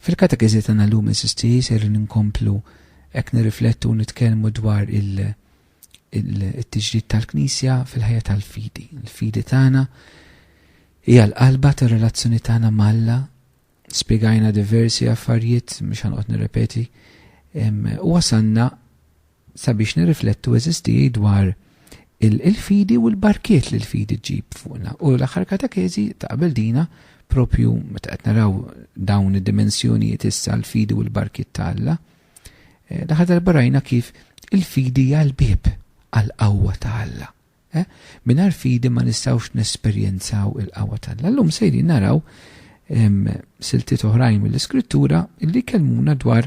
Fil-katekiżi tagħna llum eżisti ser ninkomplu hekk nirriflettu nitkellmu dwar il-tiġdid tal-Knisja fil-ħajja tal-fidi. Il-fidi tagħna hija l-qalba tar-relazzjoni tagħna malla spiegajna diversi affarijiet mhux ħanqod nirrepeti u wasanna sabiex nirriflettu, għeżież tiegħi, dwar il-fidi u l-barkiet li l-fidi ġġib fuqna. U l-aħħar katakezi ta' qabel dina, propju meta qed naraw dawn id-dimensjonijiet issa l-fidi u l-barkiet ta' Alla, eh, l-aħħar darba rajna kif il-fidi hija l-bib għall-qawwa ta' Alla. Eh, Minar fidi ma nistgħux nesperjenzaw il-qawwa ta' Alla. Llum sejri naraw siltiet oħrajn mill-iskrittura li kellmuna dwar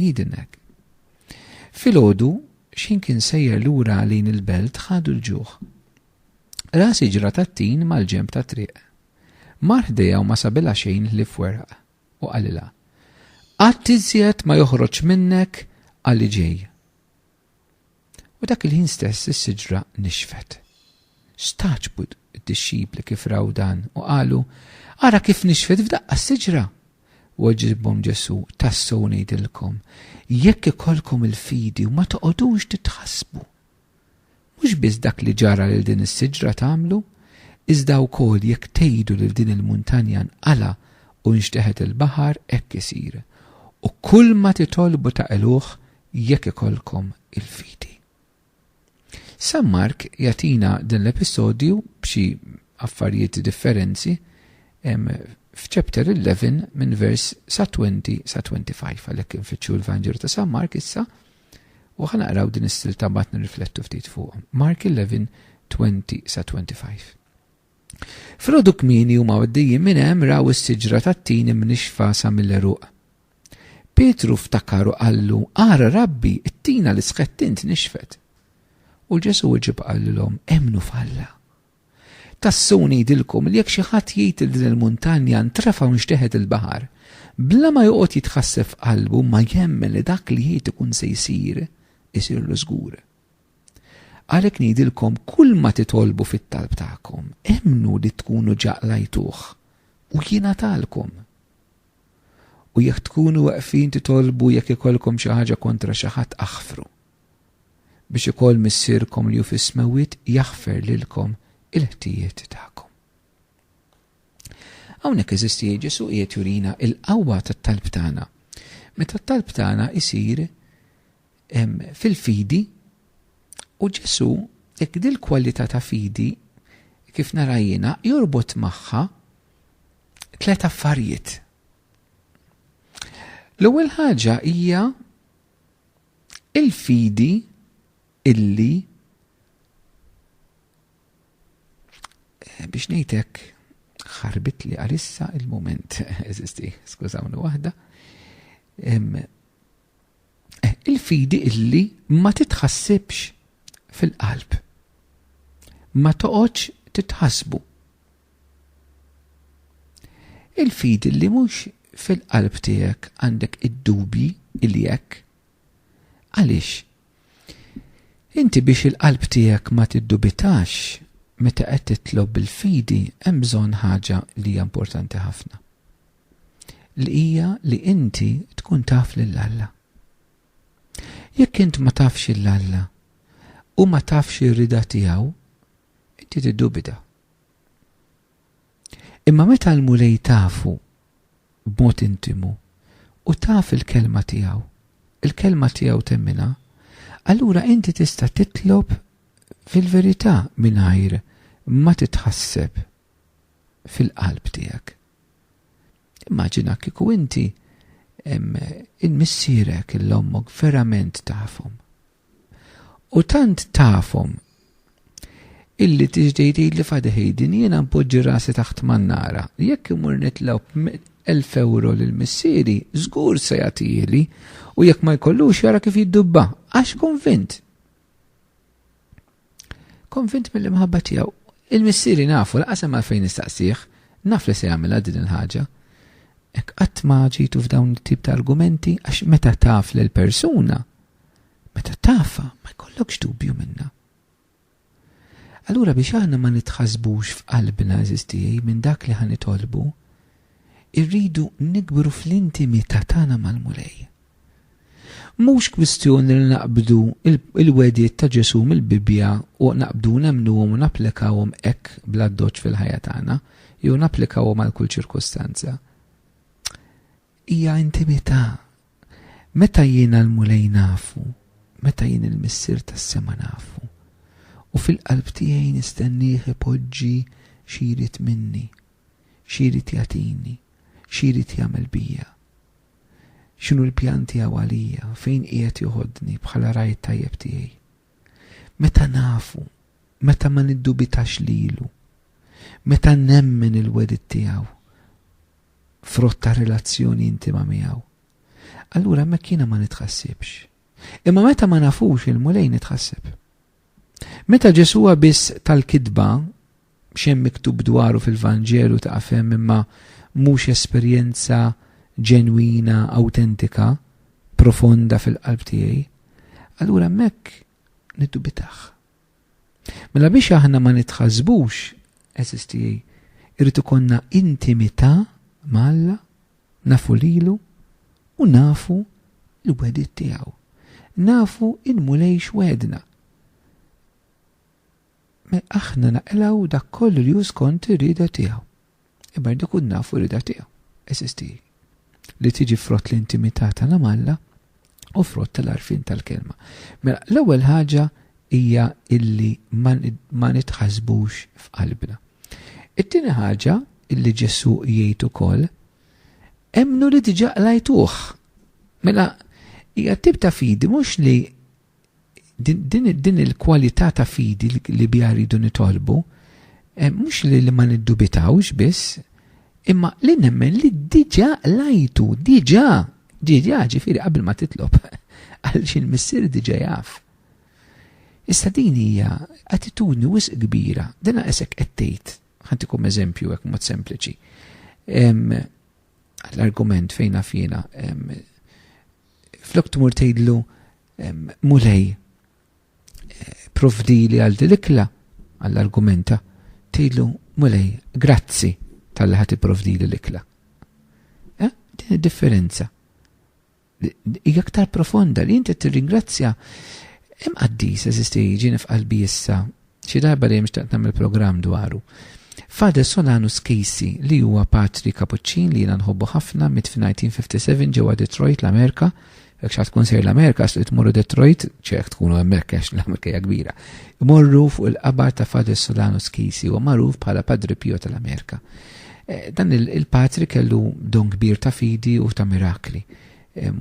Jidinnek. Filgħodu x'ħin kien sejjer lura lejn il-belt ħadu l-ġuħ. Ra siġra tat-tin mal-ġenb tat-triq. Mar ħdejha u ma sabilha xejn ħlief weraq u qalilha, Qatt iżjed ma joħroġ minnek għalli ġej. U dak il-ħin stess is-siġra nixfet. Stagħġbu d-dixxipli kif raw dan u qalu, Ara kif nixfet f'daqqa s-siġra! Weġibhom Ġesù, Tassew ngħidilkom, jekk ikollkom il-fidi u ma toqgħodux titħassbu, mhux biss dak li ġara lil din is-siġra tagħmlu, iżda wkoll jekk tgħidu lil din il-muntanja nqala' u nxteħet il-baħar, hekk isir. U kulma titolbu taqilgħuh jekk ikollkom il-fidi. San Mark jagħtina dan l-episodju b'xi affarijiet differenzi f'chapter 11 minn vers sa 20 sa 25 għalhekk infittxu l-Vanġelu ta' San Mark issa u ħanaqraw din is-silta mbagħad nirriflettu ftit fuq. Mark 11 20 sa 25. Frodu kmini huma għaddejjin minn hemm raw is-siġra tat-tin imnixfa sa mill-eruq. Pietru ftakar u qallu, Ara, Rabbi, it-tina li sħqet int nixfet. U Ġesù weġib qalilhom, Emmnu f'Alla. Tassew ngħidilkom li jekk xi ħadd jgħid lil din il-muntanja ntrefa' u nxteħet il-baħar, bla ma joqgħod jitħasseb f'qalbu ma jemmen li dak li jgħid ikun se jsir, isirlu żgur. Għalhekk ngħidilkom kulma titolbu fit-talb tagħkom, emmnu li tkunu ġa qlajtuh u jingħatalkom. u jekk tkunu weqfin titolbu jekk ikollkom xi ħaġa kontra xi ħadd aħfru, biex ukoll Missierkom li hu fis-smewwiet jaħfer lilkom il-ħtijiet tagħkom. Hawnhekk eżisti Ġesù qiegħed jurina l-qawwa tat-talb tagħna. Meta t-talb tagħna jsir fil-fidi u Ġesù jekk din il-kwalità ta' fidi kif nara jiena jorbot magħha tliet affarijiet. L-ewwel ħaġa hija il-fidi illi eh, biex ngħidlek ħarbit li għalissa il-moment eżisti, skużawni waħda. Il-fidi illi ma titħassibx fil-qalb. Ma toqgħodx titħassbu. Il-fidi li mhux fil-qalb tiegħek għandek id-dubji il jekk. Għaliex? Inti biex il-qalb tiegħek ma tiddubitax meta qed titlob bil-fidi hemm bżonn ħaġa li hija importanti ħafna. li hija li inti tkun taf lil Alla. Jekk int ma tafx lil Alla u ma tafx ir-rida tiegħu, inti tiddubita. Imma meta l-Mulej tafu b'mod intimu u taf il-kelma tiegħu, il-kelma tiegħu temmina, allura inti tista' titlob fil-verità mingħajr ma titħasseb fil-qalb tiegħek. Immaġina kieku inti il-missierek, l-ommok verament tafhom. U tant tafhom illi tiġdej tgħidli fadeh din jiena npoġġi rasi taħt mannara. Jekk imur nitlob elf ewro lil missieri, żgur se jagħtihili u jekk ma jkollux jara kif jiddubba, għax konvint. Konvint mill-imħabba tiegħu. Il-missieri nafu lanqas hemm għalfejn nistaqsih, naf li se jagħmilha din il-ħaġa. Hekk qatt ma ġejtu f'dawn it-tip ta' argumenti għax meta taf lill-persuna, meta tafha ma jkollokx dubju minnha. Allura biex aħna ma nitħassbux f'qalbna, għażiż tiegħi, minn dak li ħa nitolbu, irridu nikbru fl-intimità tagħna mal-Mulej. Mhux kwistjoni li naqbdu l-wegħdiet ta' Ġesù mill-Bibbja u naqbdu nemmnuhom u napplikawhom hekk bl-addoċċ fil-ħajja tagħna, jew napplikawhom għal kull ċirkustanza. Hija intimità. Meta jiena l-Mulej nafu, meta jien il-Missier tas-sema nafu, u fil-qalb tiegħi nistennieh ipoġġi xi jrid minni. Xi jrid jagħtini? Xi jrid jagħmel bija? X'inhu l-pjan tiegħu għalija? Fejn qiegħed joħodni bħala ragħaj it-tajjeb tiegħi? Meta nafu, meta ma niddubitax lilu, meta nemmen il-wegħdiet tiegħu, frott ta' relazzjoni intima miegħu, allura hemmhekk jiena ma nitħassibx. Imma meta ma nafux il-Mulej nitħasseb. Meta Ġesù huwa biss tal-kitba, xejn miktub dwaru fil-Vanġelu ta' fem imma mhux esperjenza ġenwina, awtentika, profonda fil-qalb tiegħi, allura hemmhekk niddubitah. Mela biex aħna ma nitħasbux, eżis tiegħi, irrid ikollna intimità ma' Alla Nafu lilu u nafu l-wegħdiet tiegħu. Nafu il-Mulej x'wegħedna. Mela aħna naqilgħu dak kollu li hu skont ir-rieda tiegħu. Imma rrid ikun nafu r-rieda tiegħu, eżisti, li tiġi frott l-intimità tagħna m'Alla u frott tal-arfin tal-kelma. Mela, l-ewwel ħaġa hija illi ma nitħasbux f'qalbna. It-tieni ħaġa illi Ġesu jgħid ukoll, emmnu li diġà qlajtuh. Mela, hija tip ta' fidi mhux li Din il-kwalità ta' fidi li biha rridu nitolbu, eh, mhux li ma niddubitawx biss, imma li nemmen li diġà lajtu, diġà, diġà ġifieri qabel ma titlob, għal xil missier diġà jaf. Issa din hija attitudni wisq kbira, dina esek qed tgħid, ħantikom eżempju hekk mod sempliċi. L-argument fejn naf jiena flok tmur tgħidlu mulej eh, provdili għal dilikla għall-argumenta tgħidlu mulej grazzi tal-li ħati provdili l-ikla. Eh, din differenza hija aktar profonda li inti tirringrazzja hemm qaddis eżisti jiġini f'qalbi issa Xi darba dejjem xtaqt nagħmel programm dwaru. Father Solano Skisi, li huwa patri kapuċċin li jiena nħobbu ħafna mit f'1957 ġewwa Detroit l-Amerika, jekk xi tkun sejr l-Amerika xtaqt tmorru Detroit, ċek tkunu hemmhekk għax l-Amerika hija kbira. Imorru fuq il-qabar ta' Father Solano Skisi u magħruf bħala Padri Pio tal-Amerika. Eh, dan il-patri kellu don kbir ta' fidi u ta' mirakli.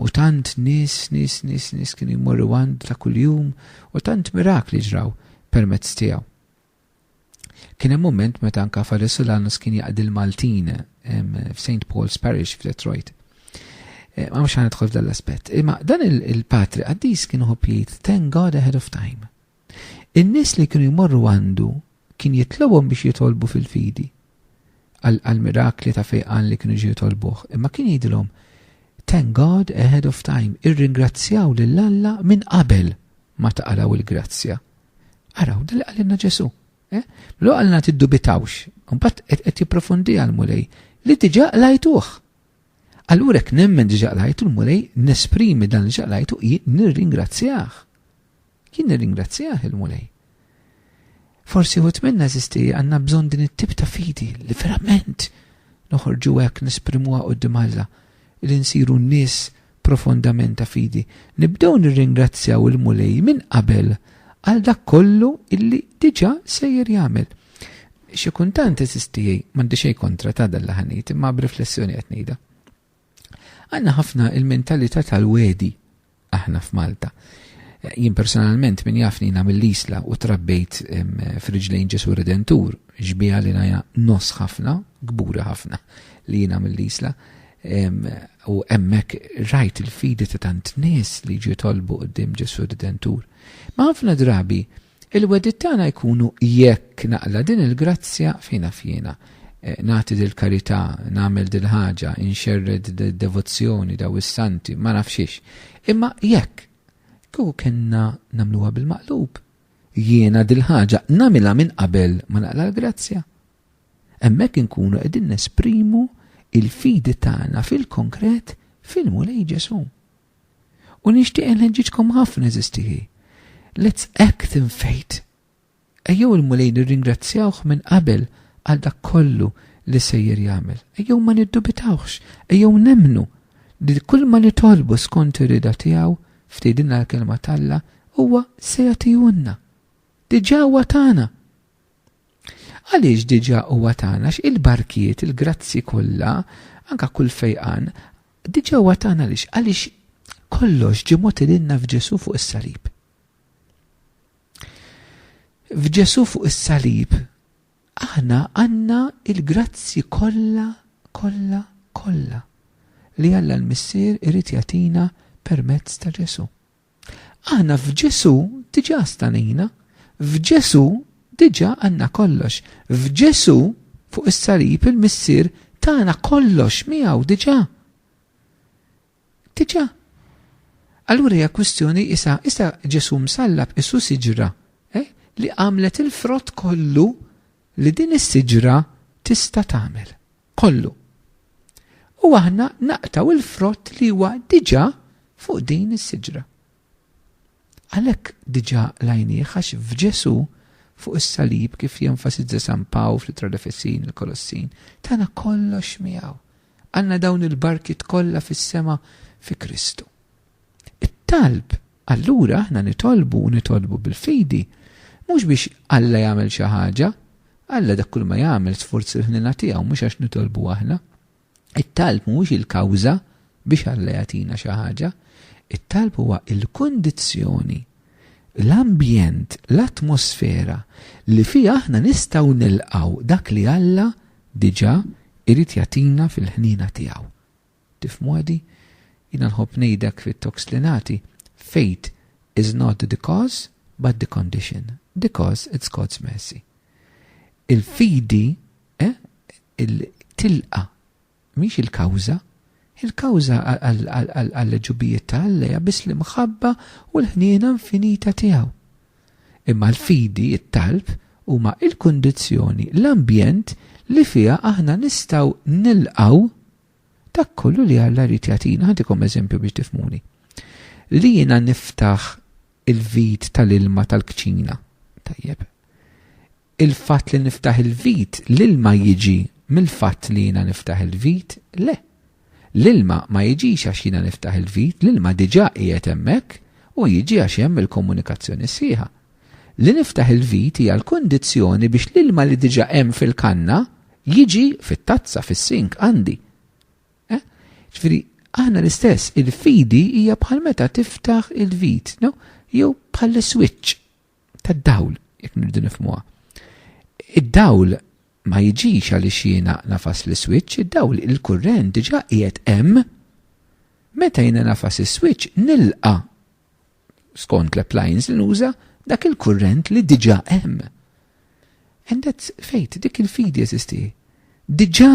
U tant nis, nis, nis, nis kien jmorru għand ta' kuljum u tant mirakli ġraw permezz tiegħu. Kien hemm moment meta anka Fader Solanus kien jaqdi l-Maltin f'St. Paul's Parish f'Detroit. E, ma mhux ħanidħol f'dan l-aspett. Imma dan il-patri qaddis kien ħobb jgħid, thank God ahead of time. In-nies li kienu jmorru għandu kien jitlobhom biex jitolbu fil-fidi għall-mirakli ta' fejqan li kienu jiġu jitolbuh, imma kien jgħidilhom, Thank God ahead of time, irringrazzjaw lil Alla minn qabel ma tqalgħu l-grazzja. Araw dak li qalilna Ġesù. Eh? L-ewwel qalilna tiddubitawx, imbagħad qed jipprofundiha l-Mulej li diġà qlajtuh. Allura hekk nemmen diġà qlajtu l-Mulej nesprimi dan li ġaqlajtu hi nirringrazzjah. Jien nirringrazzjah, il-Mulej. Forsi wħud minna, għażiż tiegħi, għandna bżonn din it-tip ta' fidi li verament noħorġu hekk nesprimuha quddiem Alla, li nsiru nies profondament ta' fidi. Nibdew nirringrazzjaw il-Mulej minn qabel għal dak kollu illi diġà sejjer jagħmel. Xi kuntant, għażiż tiegħi, m'għandi xejn kontra ta' dan li ħa ngħid, imma b'riflessjoni qed ngħidha. Għandna ħafna il-mentalità tal-wegħdi aħna f'Malta. Jien personalment min jafni jina mill-Isla u trabbejt f'riġlejn Ġesu Redentur, xbija li naja nos ħafna, gburi ħafna li jina mill-Isla. U emmek rajt il-fidi ta' tant nis li ġitolbu qoddim Ġesu Redentur. Ma ħafna drabi, Il-wegħdiet tagħna jkunu jekk naqla' din il-grazzja fejn af jiena, nagħti dil-karità, nagħmel dil-ħaġa, inxerred dil-devozzjoni, daw is-santi, ma naf xiex. Imma jekk, kieku kellna nagħmluha bil-maqlub, jiena dil-ħaġa nagħmilha minn qabel ma naqla' l-grazzja. Hemmhekk inkunu qegħdin nesprimu l-fidi tagħna fil-konkret fil-Mulej Ġesù. U nixtieq inħeġġiġkom ħafna għeżież tiegħi. Let's act in faith. Ejjew il-Mulej nirringrazzjawh minn qabel għal dak kollu li sejjer jagħmel. Ejjew ma niddubitawhx, ejjew nemmnu li kull ma nitolbu skont ir-rida tiegħu f'tgħidilna l-Kelma t'Alla huwa se jagħtihulna. Diġà huwa tagħna. Għaliex diġà huwa tagħna x'il-barkiet, il-grazzi kollha, anka kull fejqan, Diġà huwa tagħna għaliex? Għaliex kollox ġie mogħti lilna f'Ġesù fuq is-salib. F'Ġesù fuq is-salib aħna għandna il-grazzi kollha, kollha, kollha li Alla l-Missier irid jagħtina permezz ta' Ġesù. Aħna f'Ġesù diġà stanejna. F'Ġesù diġà għandna kollox. F'Ġesù fuq is-salib il-Missier tana kollox miegħu diġà. Diġà. Allura hija kwistjoni isa, isa Ġesù msallab isu siġra eh, li għamlet il-frott kollu li din is-siġra tista' tagħmel. kollu. U aħna naqtaw il-frott li huwa diġà fuq din is-siġra. Għalhekk diġà lajnieh għax f'Ġesu fuq is-salib kif jenfasizza San Paw fl-Itra l-Efesin il-Kolossin, tagħna kollox miegħu. Għandna dawn il-barkiet kollha fis-sema fi Kristu. It-talb, allura aħna nitolbu u nitolbu bil-fidi, mhux biex Alla jagħmel xi ħaġa, Alla dak kull ma jagħmel sforz il-ħniena tiegħu mhux għax nitolbu aħna. It-talb mhuwiex il-kawża biex Alla jagħtina xi ħaġa, it-talb huwa l-kundizzjoni, l-ambjent, l-atmosfera li fiha aħna nistgħu nilqgħu dak li Alla diġà jrid jagħtina fil-ħniena tiegħu. Tifhmuha di? Jiena nħobb ngħidlek fit-talks li nagħti, fate is not the cause but the condition, the cause it's God's mercy. Il-fidi, eh, tilqa' mhix il-kawża, il-kawża għall-għeġubijiet ta' Alla hija biss l-imħabba u l-ħniena infinita tiegħu. Imma l-fidi, it-talb, huma il-kundizzjoni, l-ambjent li fiha aħna nistgħu nilqgħu Dak kollu li Alla jrid jagħtina, ħantikom eżempju biex tifhmuni. Li jiena niftaħ il-vit tal-ilma tal-kċina, tajjeb. Il-fatt li niftaħ il-vit, l-ilma jiġi mill-fatt li jiena niftaħ il-vit, le. L-ilma ma jiġix għax jiena niftaħ il-vit, l-ilma diġà qiegħed hemmhekk u jiġi għax hemm il-komunikazzjoni sħiħa. li niftaħ il-vit hija l-kundizzjoni biex l-ilma li diġà hemm fil-kanna jiġi fit-tazza, fis-sink, għandi. Eh? Ġifieri, aħna l-istess, il-fidi hija bħal meta tiftaħ il-vit, no? jew bħal switch tad-dawl, jekk nirdu nifmuha. Id-dawl ma jiġix għaliex jiena nafas l-switch, id-dawl il-kurrent diġà qiegħed hemm. Meta jiena nafas is-switch nilqa' skont l-appliance li nuża, dak il-kurrent li diġà hemm. And that's faith, dik il-fidi eżisti. Diġà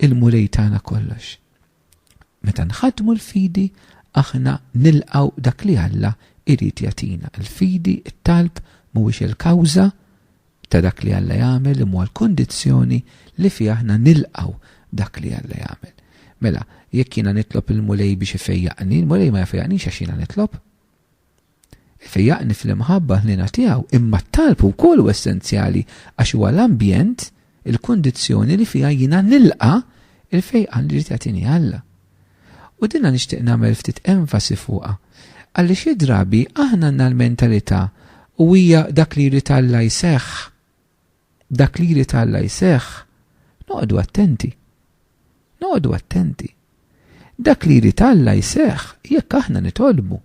il-mulej tagħna kollox. Meta nħadmu l-fidi, aħna nilqaw dak li Alla irid jatina. Il-fidi, it-talb, mhuwiex il-kawża, ta' dak li Alla jagħmel imma huwa l-kondizzjoni li fiha aħna nilqgħu dak li Alla jagħmel. Mela, jekk jiena nitlob il-Mulej biex ifejjaqni, il-Mulej ma jfejjaqnix għax jiena nitlob. Ifejjaqni fl-imħabba ħniena tiegħu, imma t-talb ukoll hu essenzjali għax huwa l-ambjent, il-kondizzjoni li fiha jiena nilqa' il-fejqan li jrid jagħtini Alla. U dinha nixtieq nagħmel ftit enfasi fuqha, għalli xi drabi aħna għandna l-mentalità u hija dak li jrid Alla jseħħ, dak li jrid Alla jseħħ, noqogħdu attenti. Noqogħdu attenti. Dak li jrid Alla jseħħ jekk aħna nitolbu.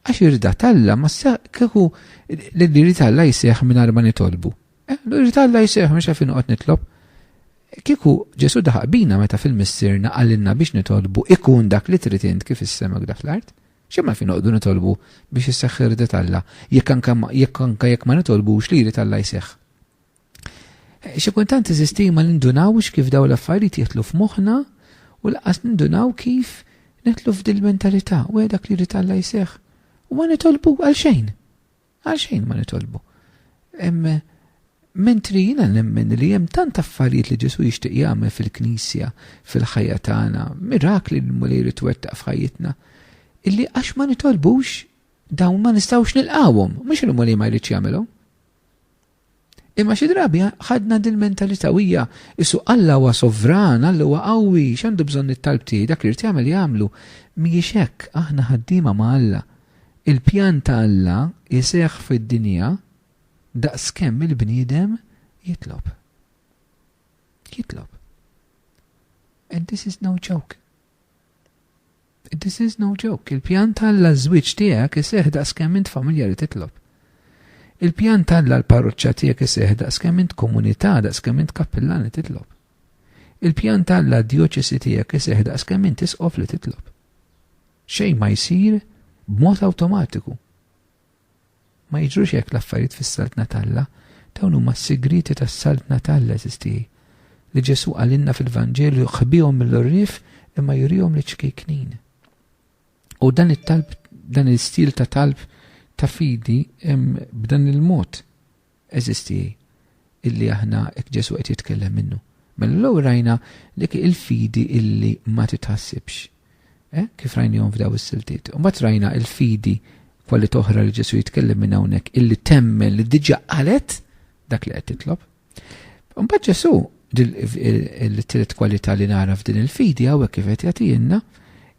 Għax irda talla ma seħ kieku li irda talla jseħ minn arma nitolbu. Eh, l irda talla jseħ minn xafin uqot nitlob. Kieku ġesu daħaq bina meta fil-missirna għallinna biex nitolbu ikun dak li trid int kif issema dak l-art. Xemma fin uqdu nitolbu biex jisseħ irda talla, jekk anka jekk ma nitolbux li irda talla jseħ. Xi kultant iżisti ma nindunawx kif daw l-affarijiet jitlu f'moħħna u laqas nindunaw kif nitlu f'dil mentalità u dak li jrid Alla jseħħ. U ma nitolbu għal xejn. Għal xejn ma nitolbu. Mentri jiena nemmen li hemm tant affarijiet li Ġesu jixtieq jagħmel fil-Knisja, fil-ħajja tagħna, mirakli li l-Mulej jrid twettaq f'ħajjitna, illi għax ma nitolbux dawn ma nistgħux nilqawhom, mhux il-Mulej ma jridx jagħmilhom. Imma xi drabi ħadna din mentalità u hija isu Alla huwa sovran, Alla huwa qawwi, x'għandu bżonn it-talb tiegħi, dak li rid jagħmel jagħmlu. Mhijiex hekk, aħna ħaddiema ma' Alla. Il-pjan ta' Alla jseħħ fid-dinja daqskemm il-bniedem jitlob. Jitlob. And this is no joke. This is no joke, il-pjan t'Alla għaż-żwieġ tiegħek iseħħ daqskemm int familja li titlob. Il-pjan t'Alla għall-parroċċa tiegħek iseħħ daqskemm int komunità, daqskemm int kappillan li titlob. Il-pjan t'Alla għad-djoċesi tiegħek iseħħ daqskemm int isqof li titlob. Xejn ma jsir b'mod awtomatiku. Ma jiġrux hekk l-affarijiet fis-Saltna t'Alla. Dawn huma s-sigrieti tas-Saltna t'Alla, għeżież tiegħi, li Ġesù qalilna fil-Vanġelu, ħbihom mill-għorrief imma jurihom liċ-ċkejknin. U dan it-talb, dan l-istil ta' talb ta' fidi hemm b'dan il-mod. eżisti illi aħna hekk Ġesù qed jitkellem minnu. Mela l-ewwel rajna dik il-fidi illi ma titħassibx. Eh? Kif rajnihom f'daw is-siltiet. U mbagħad rajna il-fidi kwali toħra li Ġesù jitkellem minn hawnhekk illi temmen li diġà qalet dak li qed titlob. Mbagħad Ġesù il-tielet kwalità li nara f'din il-fidi hawnhekk kif qed jagħtina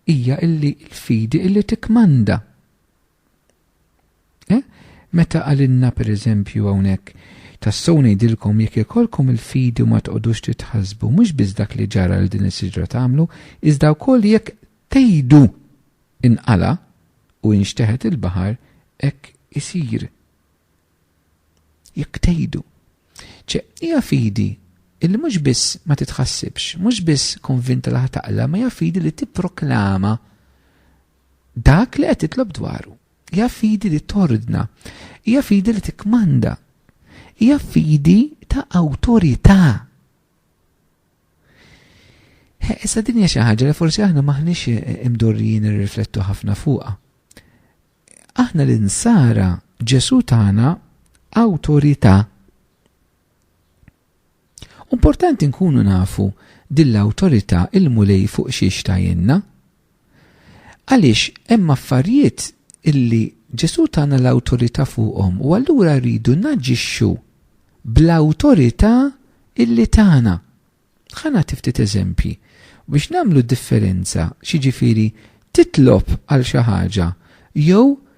hija illi l-fidi illi tikmanda. Eh? Meta għalinna per eżempju hawnhekk tassew ngħidilkom jekk ikolkom il-fidi u ma toqgħodux titħasbu mhux biss dak li ġara li din is-siġra tagħmlu, iżda wkoll jekk tgħidu inqala u inxteħet il-baħar hekk isir. Jekk tgħidu. Ċe, hija fidi illi mhux biss ma titħassibx, mhux biss konvinta li taqla, ma hija fidi li tipproklama Dak li qed titlob dwaru hija fidi li tordna, hija fidi li tikkmanda, hija fidi ta' awtorità. Issa din hija xi ħaġa li forsi aħna maħniex imdorrijin irriflettu ħafna fuqha. Aħna l-insara Ġesu tagħna awtorità. Importanti nkunu nafu din l-awtorità il-Mulej fuq xiex tajinna. Għaliex hemm affarijiet illi Ġesu tagħna l-awtorità fuqhom u allura rridu naġixxu bl-awtorità illi tagħna. Ħana tiftit eżempji biex nagħmlu differenza x'jiġifieri titlob għal xi ħaġa jew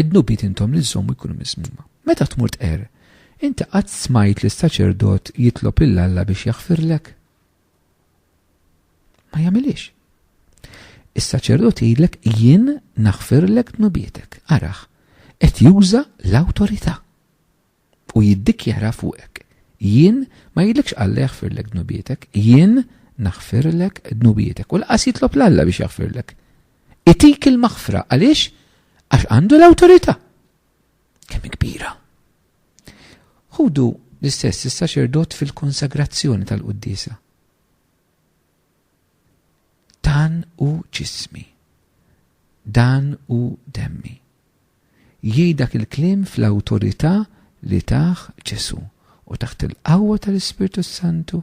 Id-dnubiet intom li żżommu jkunu miżmuma. Meta tmur tqerr, inti qatt smajt lis-saċerdot jitlob lil Alla biex jaħfirlek? Ma jagħmilhiex. Is-saċerdot jgħidlek jien naħfirlek dnubietek. Arah, qed juża l-awtorità. u jiddikjara fuqek, Jien ma jidlekx Alla jaħfirlek dnubietek, jien naħfirlek dnubietek. U lanqas jitlob 'l Alla biex jaħfirlek. Itik il-maħfra, għaliex? Għax għandu l-awtorità. Kemm kbira. Ħudu l-istess is-saċerdot fil-konsagrazzjoni tal-quddiesa. Dan hu ġismi. Dan hu demmi. Jgħid dak il-kliem fl-awtorità li tah Ġesù, u taħt il-qawwa tal-Ispirtu s-Santu,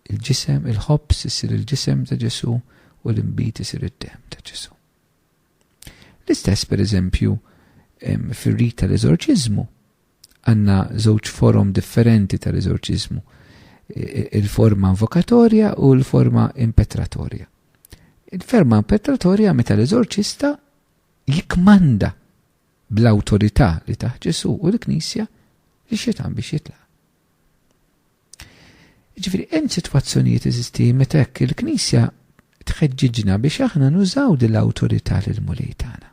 il-ġisem, il-ħobż isir il-ġisem ta' Ġesù u l-inbid isir id-demm ta' Ġesù. L-istess, per eżempju, fir-rit tal-eżorċiżmu, Għandna żewġ forom differenti tal-eżorċiżmu, il-forma invokatorja u l-forma impetratorja. Il-forma impetratorja meta l-eżorċista jikmanda bl-awtorità li taħ Ġesu u l-Knisja li xetan biex jitlaq. Ġifiri, hemm sitwazzjonijiet eżisti meta hekk il-Knisja tħeġġiġna biex aħna nużaw din l-awtorità lil mulej tagħna.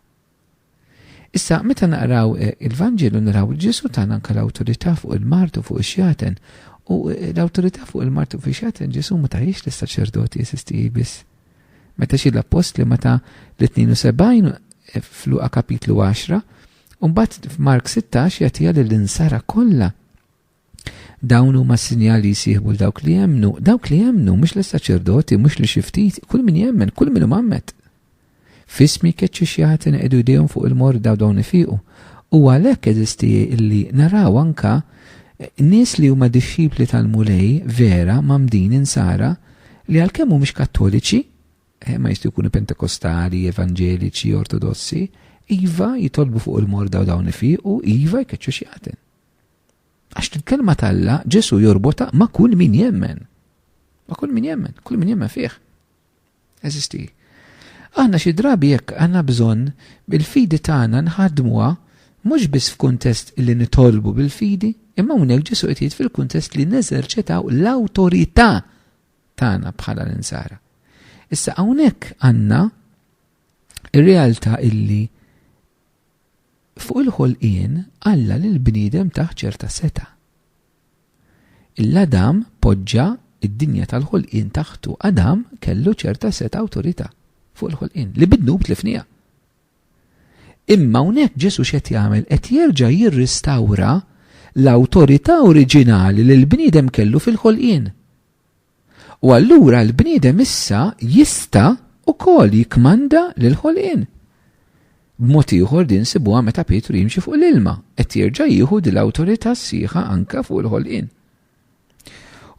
Issa, meta naqraw il-Vanġelu naraw li Ġesu tagħna anke l-awtorità fuq il-mart u fuq ix-xjaten. U l-awtorità fuq il-mart u fuq ix-xjaten Ġesu ma tahiex lis-saċerdoti esistiji biss. Meta xi l-appostli ma ta' l-72 f'Luqa kapitlu 10, u mbagħad f'Mark 16 jagħtiha lill-insara kollha. Dawn huma s-sinjal li jsieħbu l dawk li jemmnu, dawk li jemmnu, mhux l-saċerdoti, mhux li xi ftit, kull min jemmen, kull min mammet. Fismi keċċi xjaħti neqdu jdejhom fuq il-morda u dawn ifiqu. U għalhekk eżisti illi naraw anka eh, nies li huma dixxipli tal-mulej vera mamdin insara li għalkemm mhumiex kattoliċi, eh, ma jistgħu jkunu pentekostali, evanġeliċi, ortodossi, iva jitolbu fuq il-morda u dawn ifiqu, iva jkeċċu xjaħten. Għax il-kelma t'Alla Ġesu jorbota ma' kull min jemmen. Ma' kull min jemmen, kull min jemmen fih. Eżisti. Aħna xi drabi jekk għandna bżonn bil-fidi tagħna nħadmuha mhux biss f'kuntest li nitolbu bil-fidi, imma hawnhekk Ġesu qed jgħid fil-kuntest li neżerċitaw l-awtorità tagħna bħala l-insara. Issa hawnhekk għandna ir-realtà illi Fuq il-ħolqien, Alla lill-bniedem tah ċerta setgħa. Il Adam poġġa d-dinja tal-ħolqien taħtu. Adam kellu ċerta setgħa awtorità fuq il-ħolqien li bid-dnub tlifniha. Imma hawnhekk Ġesu x'qed jagħmel? Qed jerġa' jirristawra l-awtorità oriġinali li l-bniedem kellu fil-ħolqien. U allura l-bniedem issa jista' ukoll jikkmanda lill-ħolqien. B'mod ieħor din nsibuha meta Pietru jimxi fuq l-ilma, qed jerġa' jieħu din l-awtorità sħiħa anke fuq il-ħolqien.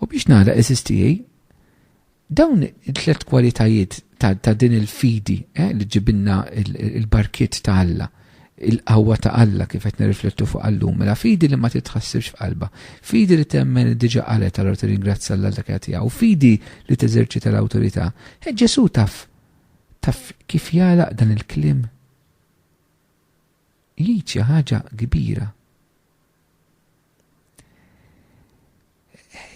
U biex nagħlaq eżiż tiegħi, dawn it-tliet kwalitajiet ta' din il-fidi eh, li ġibilna il-barkiet ta' Alla, il-qawwa ta' Alla kif qed nirriflettu fuq għallum, mela fidi li ma titħassibx f'qalba, fidi li temmen li diġa qalet allura tirringrazzja l dak qed u fidi li teżerċita l-awtorità. E Ġesu taf taf kif jagħlaq dan il-klim? Jgħid xi ħaġa kbira.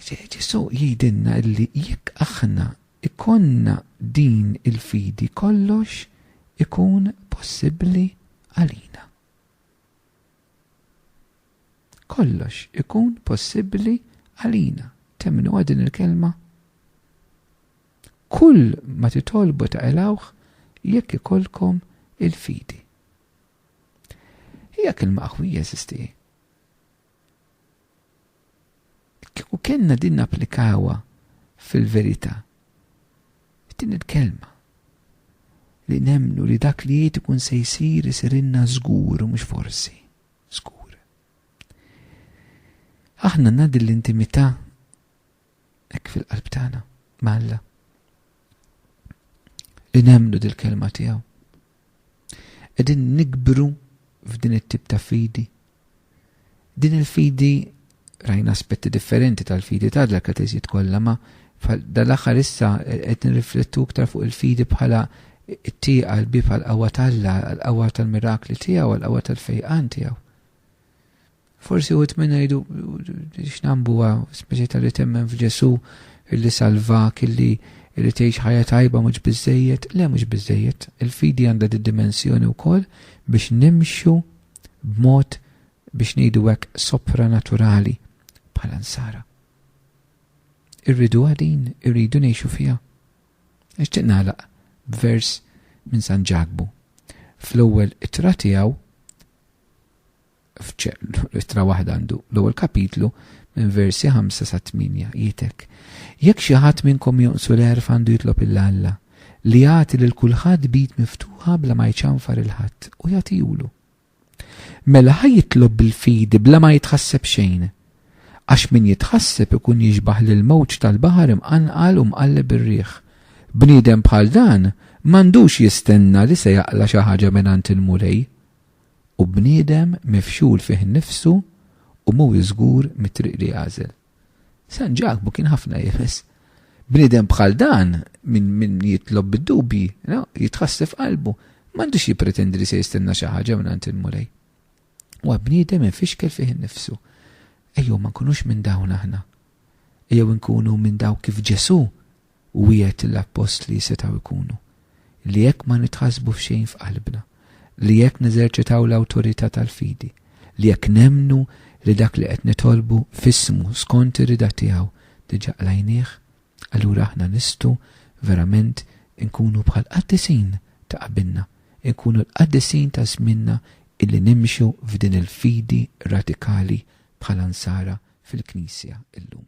Ġesù jgħidilna li jekk aħna jkollna din il-fidi kollox ikun possibbli għalina. Kollox ikun possibbli għalina. Temnuha din il-kelma? Kull ma titolbu ta' elawħ jekk ikollkom il-fidi. Hija kelma qawwija sisti. Kieku kellna din napplikawha fil-verità, din il-kelma, li nemmnu li dak li jgħid ikun se jsir isirilna żgur u mhux forsi, żgur. Aħna għandna din l-intimità Hekk fil-qalb tagħna ma' Alla. Li nemmnu dil-kelma tiegħu. Qegħdin nikbru f'din it-tip ta' fidi. Din il-fidi rajna aspetti differenti tal-fidi ta' dal kateżijiet kollha ma' dal-aħħar issa eh, qed nirriflettu iktar fuq il-fidi bħala t-tieqa l-bib għal-qawwa tal-la, għal-qawwa tal-mirakli tiegħu, għal-qawwa tal-fejqan tiegħu. Forsi uħut minna jidu x'nambu għaw, speċi tal li temmen f'Ġesu illi salvak, illi li tgħix ħajja tajba mhux biżejjed, le mhux biżejjed. Il-fidi għandha di dimensjoni wkoll biex nimxu b'mod biex ngħidu hekk sopranaturali bħala nsara. Irridu għadin, irridu ngħixu fiha. Għax tiqnalaq b'vers minn San Ġakbu. Fl-ewwel ittra tiegħu f'ittra waħda għandu l-ewwel kapitlu minn versi 5 sa 8 jgħidek. Jekk xi ħadd minnkom jonqsu l-għerf għandu jitlob il Alla li jagħti lil kulħadd bid miftuħa bla ma jċanfar il-ħadd u jagħtihulu. Mela ħaj jitlob bil-fidi bla ma jitħasseb xejn. Għax min jitħasseb ikun jiġbaħ lil mowġ tal-baħar imqanqal u mqalleb ir-riħ. Bniedem bħal dan m'għandux jistenna li se jaqla xi ħaġa minn il-mulej u bniedem mifxul fih innifsu u mhuwiex żgur mit-triq li jagħżel. San Ġakbu kien ħafna iebes. Bniedem bħal dan, minn min jitlob bid-dubji, jitħassef qalbu, m'għandux jippretendi li se jistenna xi ħaġa mingħand il-Mulej. Huwa bniedem imfixkel fih innifsu. Ejjew ma nkunux minn dawn aħna. Ejjew inkunu minn dawk kif Ġesù wiegħed lill-appostli setgħu jkunu, li jekk ma nitħassbu f'xejn f'qalbna, li jekk neżerċitaw l-awtorità tal-fidi, li jekk nemmnu li dak li qed nitolbu f'ismu skont ir-rieda tiegħu diġà qlajnieh, allura aħna nistgħu verament inkunu bħall-qaddisin ta' qabilna, inkunu l-qaddisin ta' żmienna illi nimxu f'din il-fidi radikali bħala Nsara fil-Knisja llum.